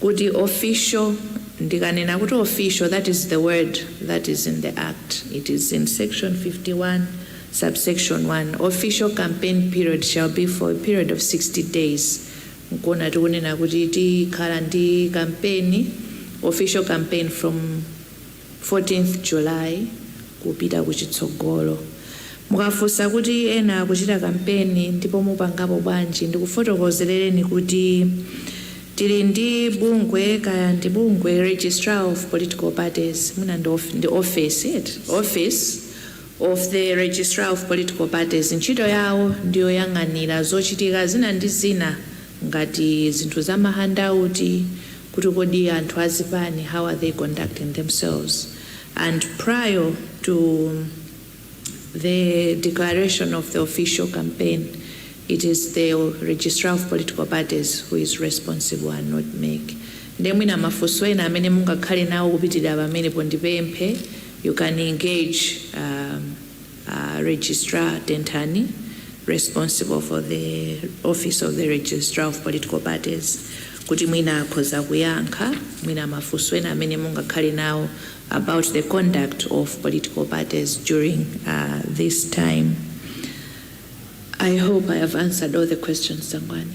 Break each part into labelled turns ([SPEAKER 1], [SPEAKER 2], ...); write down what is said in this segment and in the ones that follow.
[SPEAKER 1] kuti official ndikanena kuti official that is the word that is in the act it is in section 51 subsection 1 official campaign period shall be for a period of 60 days nkuwona tikunena kuti tikhala ndi kampeni official campaign from 14th July kupita kuchitsogolo. Mukafunsa kuti ena kuchita kampeni ndipo mupangapo bwanji ndikufotokozelereni kuti tili ndi bungwe kaya ndi bungwe, Registrar of Political Parties, mwina ndi ndi ofesi eti, Office of the Registrar of Political Parties, ntchito yawo ndiyoyang'anira zochitika zina ndi zina ngati zinthu za mahandauti, kuti kodi anthu a zipani how are they conducting themselves and prior to the declaration of the official campaign it is the registrar of political parties who is responsible and not mec nde mwina mafunso ena amene mungakhale nawo kupitirira pamenepo ndipemphe you can engage um, Registrar Tenthani responsible for the office of the registrar of political parties kuti mwina akhoza kuyankha mwina mafunso ena amene mungakhale nawo about the conduct of political parties during uh, this time i hope i have answered all the questions sangwani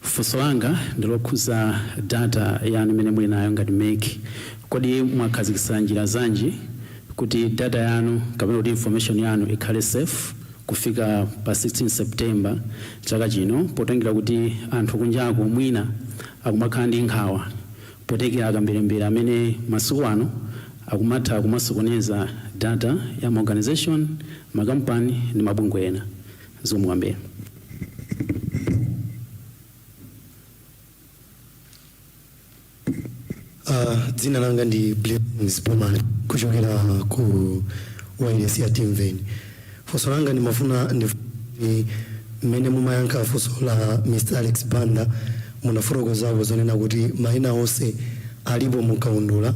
[SPEAKER 2] Funso langa ndilokhuza data yanu imene muli nayo ngati mec. Kodi mwakhazikitsa njira zanji kuti data yanu kapena kuti information yanu ikhale safe kufika pa 16 September chaka chino potengera kuti anthu kunjaku mwina akumakhala ndi nkhawa potengera akamberembere amene masiku ano akumatha kumasokoneza data ya ma organization, makampani ndi mabungwe ena. Zikomo kwambiri.
[SPEAKER 3] Uh, dzina langa ndi Blessings Bomani kuchokera ku wailesi ya Timveni. Funso langa ndimafuna ndi mmene mumayankha funso la Mr. Alex Banda munafotokozapo zonena kuti maina onse alipo mukaundula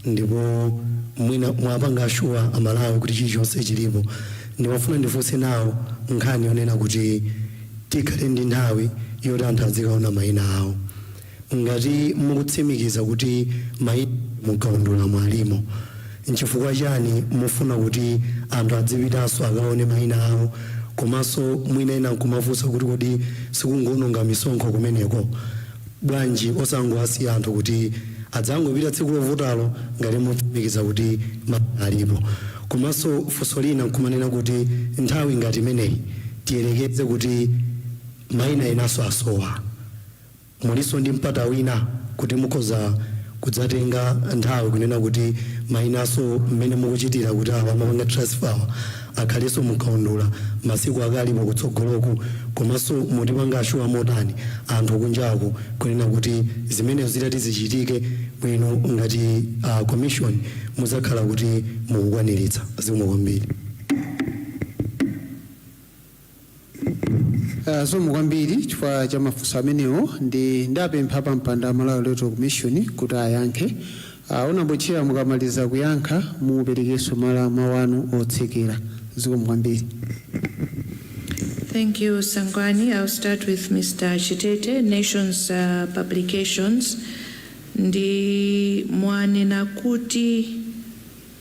[SPEAKER 3] ndipo mwina mwapanga ashuwa amalawi kuti chilichonse chilipo Ndimafuna ndifunse nawo nkhani yonena kuti tikhale ndi nthawi yoti anthu adzikaona maina awo. Ngati mukutsimikiza kuti maina mu kaundulamo alimo, nchifukwa chani mufuna kuti anthu adzipitanso akaone maina awo komanso mwina ena nkumafunsa kuti kodi sikungoononga misonkho kumeneko? Bwanji osangowasiya anthu kuti adzangopita tsiku lovotalo ngati mutsimikiza kuti maina alipo? Komanso funso lina nkumanena kuti nthawi ngati imeneyi tiyerekeze kuti maina enanso asowa, mulinso ndi mpata wina kuti mukhoza kudzatenga nthawi kunena kuti mainanso mmene mukuchitira kuti awa amapanga transfer awa. akhalenso mu kaundula masiku akalipo kutsogoloku komanso mutipanga assure motani anthu kunjaku kunena kuti zimenezo zitadzati zichitike bwino ngati a commission muzakhala kuti mukukwaniritsa. Zikomo kwambiri.
[SPEAKER 4] Uh, zikomo kwambiri chifukwa cha mafunso amenewo ndi ndipempha a pampando a Malawi Electoral Commission kuti ayankhe uh, Onamboccera mukamaliza kuyankha muperekenso mala mawu anu otsekera zikomo kwambiri
[SPEAKER 1] Thank you, Sangwani. I'll start with Mr. Chitete, Nations uh, Publications. Ndi mwanena kuti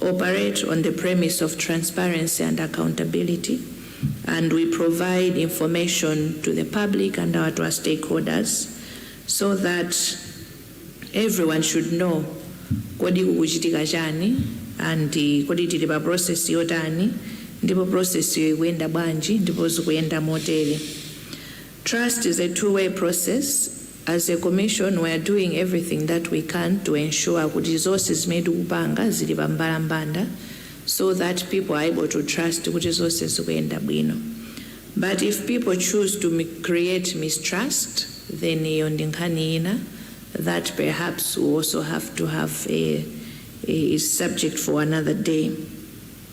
[SPEAKER 1] operate on the premise of transparency and accountability and we provide information to the public and our to our stakeholders so that everyone should know kodi kukuchitika chani and kodi tili pa process yotani ndipo process iyo ikuyenda bwanji ndipo zikuyenda motere trust is a two way process As a Commission we are doing everything that we can to ensure kuti zonse zimene tikupanga zili pa mbalambanda so that people are able to trust kuti zonse zikuyenda bwino but if people choose to create mistrust then iyo ndi nkhani ina that perhaps we also have to have a, a subject for another day.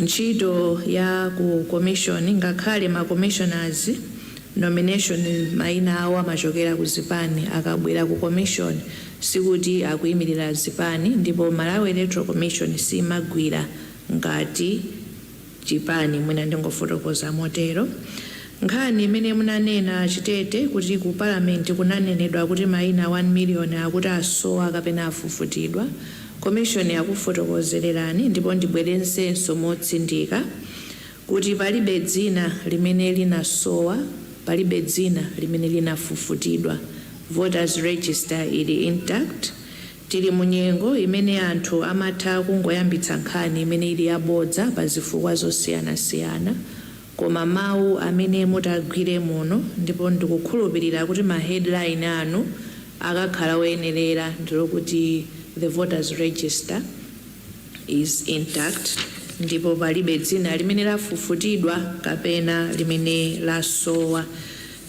[SPEAKER 1] ntchito ya ku komishoni ngakhale ma commissioners nomination maina awo amachokera ku zipani akabwera ku commission sikuti akuimirira zipani ndipo Malawi Electoral Commission siimagwira ngati chipani mwina ndingofotokoza motero. Nkhani imene munanena a Chitete kuti ku parliament kunanenedwa kuti maina 1 million akuti asowa kapena afufutidwa, commission yakufotokozelerani ndipo ndibwerezenso motsindika kuti palibe dzina limene linasowa, palibe dzina limene linafufutidwa. Voters register ili intact. Tili mu nyengo imene anthu amatha kungoyambitsa nkhani imene ili yabodza pa zifukwa zosiyanasiyana. Koma mau amene mutagwire muno ndipo ndikukhulupilira kuti ma headline anu akakhala oyenerera ndilokuti the voters register is intact ndipo palibe dzina limene lafufutidwa kapena limene lasowa.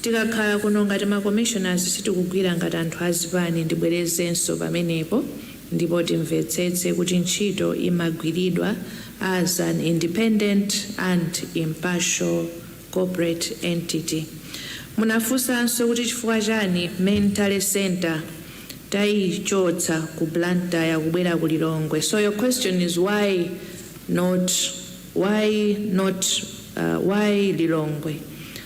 [SPEAKER 1] Tikakhala kuno ngati ma commissioners sitikugwira ngati anthu azipani ndibwerezenso pamenepo. ndipo timvetsetse kuti ntchito imagwiridwa as an independent and impartial corporate entity. Munafunsanso kuti chifukwa chani Main Tally Centre tayichotsa ku Blantyre kubwera ku Lilongwe so your question is why not why not why Lilongwe?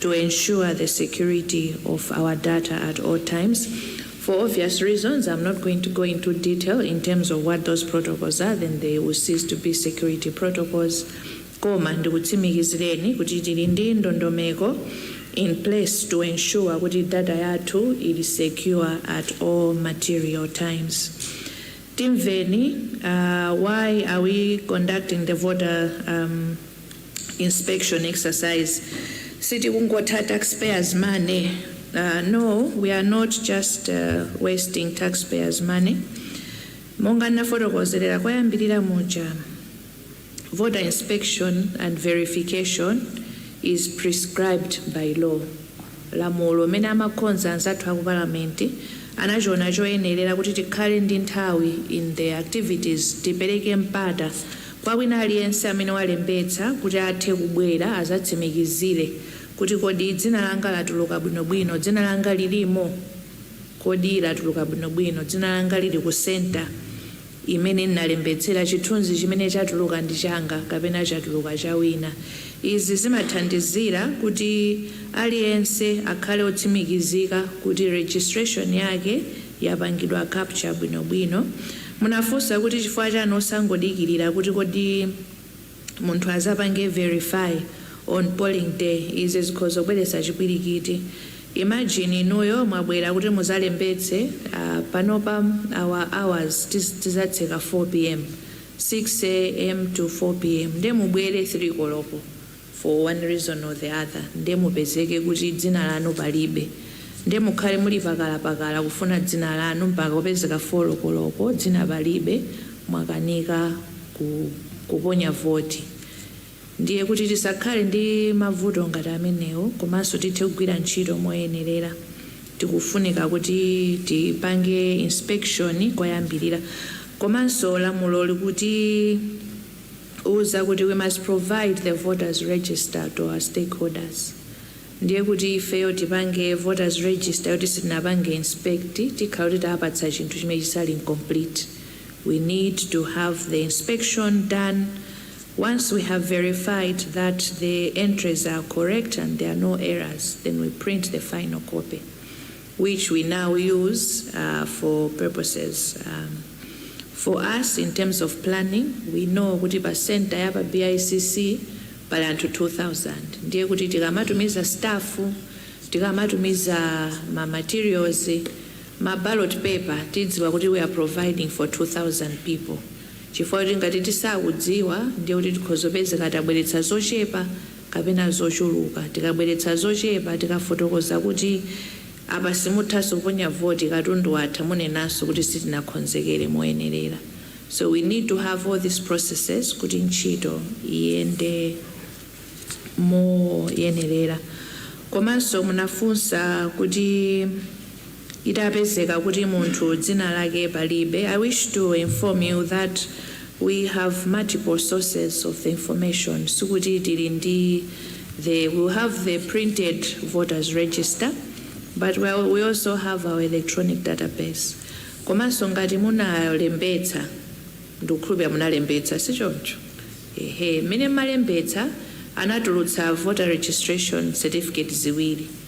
[SPEAKER 1] to ensure the security of our data at all times. For obvious reasons, I'm not going to go into detail in terms of what those protocols are, then they will cease to be security protocols. Koma ndikutsimikizireni kuti tili ndi ndondomeko in place to ensure kuti data yathu ili secure at all material times. Timveni, uh, why are we conducting the voter um, inspection exercise sikungotha taxpayers money uh, no we are not just uh, wasting taxpayers money monga nafotokozerera koyambirira muja voter inspection and verification is prescribed by law lamulo limene amakonza anzathu aku palamenti anachiona choyenerera kuti tikhale ndi nthawi in the activities tipereke mpata Kwa wina aliyense amene walembetsa kuti athe kubwera azatsimikizire kuti kodi dzina langa latuluka bwino bwino, dzina langa lilimo? Kodi latuluka bwino bwino, dzina langa lili ku center imene nalembetsera, chithunzi chimene chatuluka ndi changa kapena chatuluka cha wina. Izi zimathandizira kuti aliyense akhale otsimikizika kuti registration yake. yapangidwa capture bwino bwino. Munafunsa kuti chifukwa chani osangodikilira kuti kodi munthu azapange verify on polling day izi zikhoza kubweretsa chipwirikiti. Imagine inuyo mwabwera kuti muzalembetse panopa our hours tizatseka 4 pm, 6 am to 4 pm nde mubwere 3 koloko. for one reason or the other nde mupezeke kuti dzina lanu palibe nde mukhale muli pakalapakala kufuna dzina lanu mpaka kupezeka 4 koloko dzina palibe mwakanika kuponya voti ndiye kuti tisakhale ndi mavuto ngati amenewo komanso tithe kugwira ntchito moyenerera tikufunika kuti tipange inspection koyambirira komanso lamulo likuti Tiuza kuti we must provide the voters register to our stakeholders ndiye kuti ifeyo tipange voters register yoti sitinapange inspect tikhala kuti tapatsa chinthu chimene chisali incomplete we need to have the inspection done once we have verified that the entries are correct and there are no errors then we print the final copy which we now use for purposes for us in terms of planning we know kuti pa center ya pa BICC pali anthu 2000 ndiye kuti tikamatumiza staff tikamatumiza ma materials ma ballot paper tidziwa kuti we are providing for 2000 people chifukwa kuti ngati tisakudziwa ndiye kuti tikhoza kupezeka tabweretsa zochepa kapena zochuluka. Tikabweretsa zochepa tikafotokoza kuti apa simuthanso kuponya voti katundu watha munenenso kuti sitinakhonzekere moyenerera. So we need to have all these processes kuti ntchito iyende moyenerera. Komanso munafunsa kuti. itapezeka kuti munthu dzina lake palibe, I wish to inform you that we have multiple sources of the information sikuti tili ndi the we have the printed voters register but we we also have our electronic database komanso ngati munalembetsa ndikukhulupirira munalembetsa si choncho ehe mmene mmalembetsa anatulutsa voter registration certificate ziwiri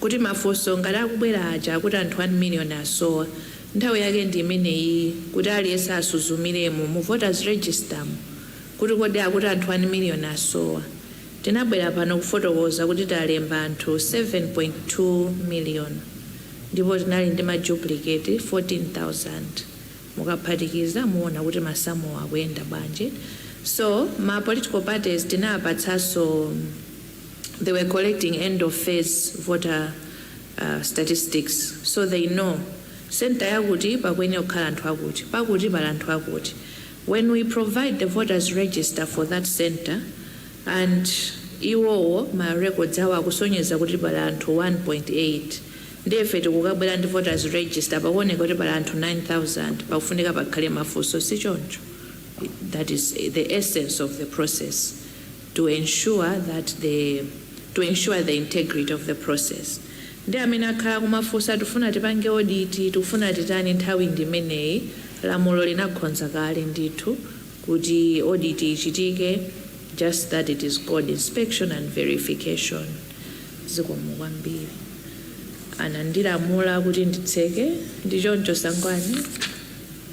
[SPEAKER 1] kuti mafunso ngati akubwera aja akuti anthu 1 million asowa, nthawi yake ndi imeneyiyi kuti aliyense asuzumiremo mu voters register mu kuti kodi akuti anthu 1 million asowa, tinabwera pano kufotokoza kuti talemba anthu 7.2 million ndipo tinali ndi ma duplicate 14,000 mukaphatikiza muona kuti masamuwo akuyenda bwanji so ma political parties tinawapatsanso they were collecting end of phase voter statistics so they know centre yakuti pakuyenera kukhala anthu akuti, pakuti pali anthu akuti. When we provide the voters register for that centre and iwowo ma records awo akusonyeza kuti pali anthu 1.8 ndiye ife tikubwera ndi voters register pakuoneka kuti pali anthu 9000 pakufunika pakhale mafunso si choncho? That is the essence of the process. to ensure that the to ensure the integrity of the process nde amene akhala akumafunsa tufuna tipange audit tikufuna titani nthawi ndi imeneyi lamulo linakhonza kale ndithu kuti audit ichitike just that it is called inspection and verification zikomo kwambiri anandilamula kuti nditseke ndi choncho Sangwani.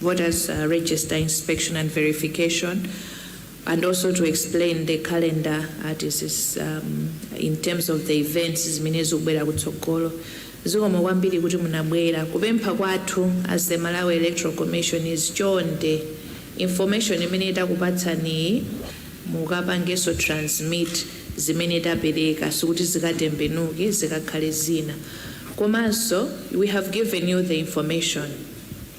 [SPEAKER 1] voters register inspection and verification and also to explain the calendar as it, is, um, in terms of the events zimene zikubwera kutsogolo zikomo kwambiri kuti munabwera kupempha kwathu as the Malawi Electoral Commission is chonde information imene takupatsaniyi mukapangenso transmit zimene tapereka sikuti zikatembenuke zikakhale zina komanso we have given you the information